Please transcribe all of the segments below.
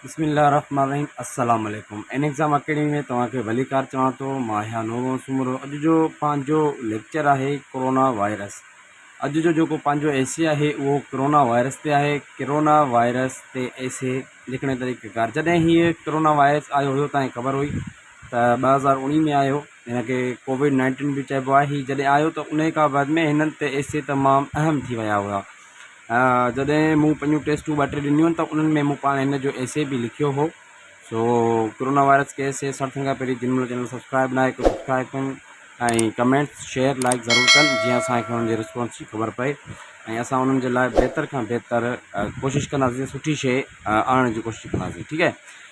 بسم الله الرحمن الرحيم السلام عليڪم ان ايگزام اڪيڊمي ۾ توهان کي ڀليڪار چوان ٿو مان آهيان نورون سومرو اڄ جو پنهنجو ليڪچر آهي ڪورونا وائرس اڄ جو جيڪو پنهنجو ايسي آهي اهو ڪورونا وائرس تي آهي ڪورونا وائرس تي ايسي لکڻ جو طريقه ڪار جڏهن هيء ڪورونا وائرس آيو هيو تاني خبر هئي ته ٻ هزار اڻيهه ۾ آيو هن کي ڪوويڊ نائنٽين به چئبو آهي هي جڏهن آيو ته ان کان بعد ۾ هنن تي ايسي تمام اهم ٿي ويا هئا جڏهن مون پنهنجون ٽيسٽون ٻه ٽي ڏنيون ته انهن ۾ مون پاڻ هن جو ايسي به لکيو هو سو ڪرونا وائرس کي ايسي سان ٿيڻ کان پهرين جن منهنجو چينل سبسڪرائب ناهي ڪيو سبسڪرائب ڪن ۽ ڪمينٽس شيئر لائڪ ضرور ڪن جيئن اسانکي انهن جي رسپانس جي خبر پئي ۽ اسان انهن جي لاء بهتر کان بهتر ڪوشش ڪنداسين سٺي شيء آڻڻ جي ڪوشش ڪنداسين ٺيڪ آهي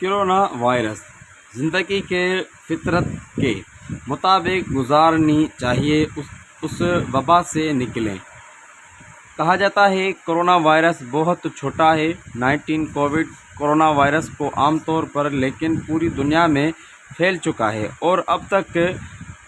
ڪرونا وائرس زندگي کي فطرت ڪي مطابق گذارني چاهيي اس وبا سي نڪلين ڪها جاتا هي ڪرونا وائرس بهت ڇوٽا هي نائنٽين ڪووڊ ڪرونا وائرس ڪو عام طور پر ليڪن پوري دنيا ۾ ڦيل چڪا هي اور اب تڪ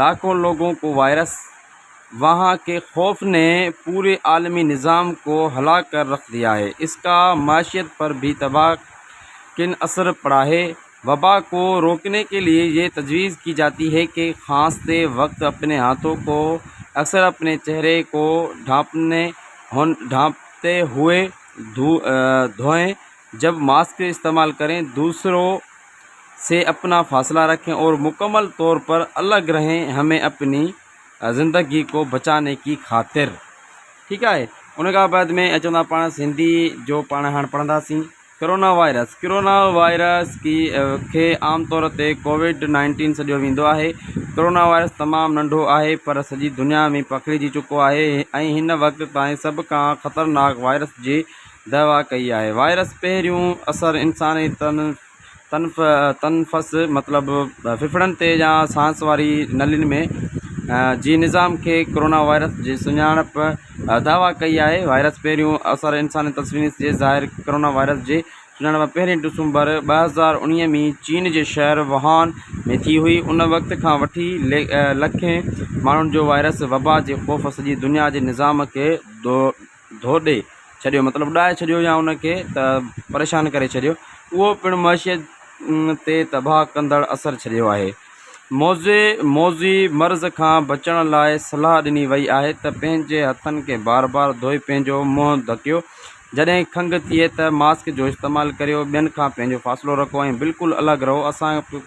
لاکون لوگون ڪو وائرس وهان ڪي خوف ني پوري عالمي نظام ڪو هلا ڪر رک ديا هي اس ڪا معشيت پر ڀي تباه ڪن اثر پڙا هي وبا ڪو روڪني ڪي ليئي يي تجويز ڪي جاتي هي ڪي خاص تي وقت اپني هاٿو ڪو اثر اپني چهري ڪو ڍانپني هون ڍانپتي هوئي ڌوئين جب ماسڪ استعمال ڪرين دوسرو سي اپنا فاصلا رکين اور مکمل طور پر الگ رھين ھمين اپني زندگي ڪو بچاني ڪي خاطر ٺيڪ آھي ان کان بعد مين اچون ٿا پاڻ سنڌي جو پاڻ ھاڻ پڙھندا سين ڪرونا وائرس ڪرونا وائرس ڪي کي عام طور تي ڪوويڊ نائنٽين سڏيو ويندو آھي ڪرونا وائرس تمام ننڍو آھي پر سڄي دنيا ۾ پکڙجي چڪو آھي ۽ ھن وقت تائين سڀ کان خطرناڪ وائرس جي دعويٰ ڪئي آهي وائرس پهريون اثر انساني تنفس مطلب ڦڦڙن تي يا سانس واري نلين ۾ جي نظام کي ڪورونا وائرس جي سڃاڻپ دعويٰ ڪئي آهي وائرس پهريون اثر انساني تنفس جي ظاهر ڪورونا وائرس جي سڃاڻپ پهرين ڊسمبر ٻه هزار اڻيهه ۾ چين جي شهر وهان ۾ ٿي هئي ان وقت کان وٺي لکين ماڻهن جو وائرس وبا جي خوف سڄي دنيا جي نظام کي ڌو ڏئي ڇڏيو مطلب اڏائي ڇڏيو يا ان کي ته پريشان ڪري ڇڏيو اهو پڻ معشيت تي تباهه ڪندڙ اثر ڇڏيو آهي موضع موضوعي مرض کان بچڻ لاء صلاح ڏني وئي آهي ته پنهنجي هٿن کي بار بار ڌوئي پنهنجو منهن ڍڪيو جڏهن کنگهه ٿئي ته ماسڪ جو استعمال ڪريو ٻين کان پنهنجو فاصلو رکو ۽ بلڪل الڳ رهو اسان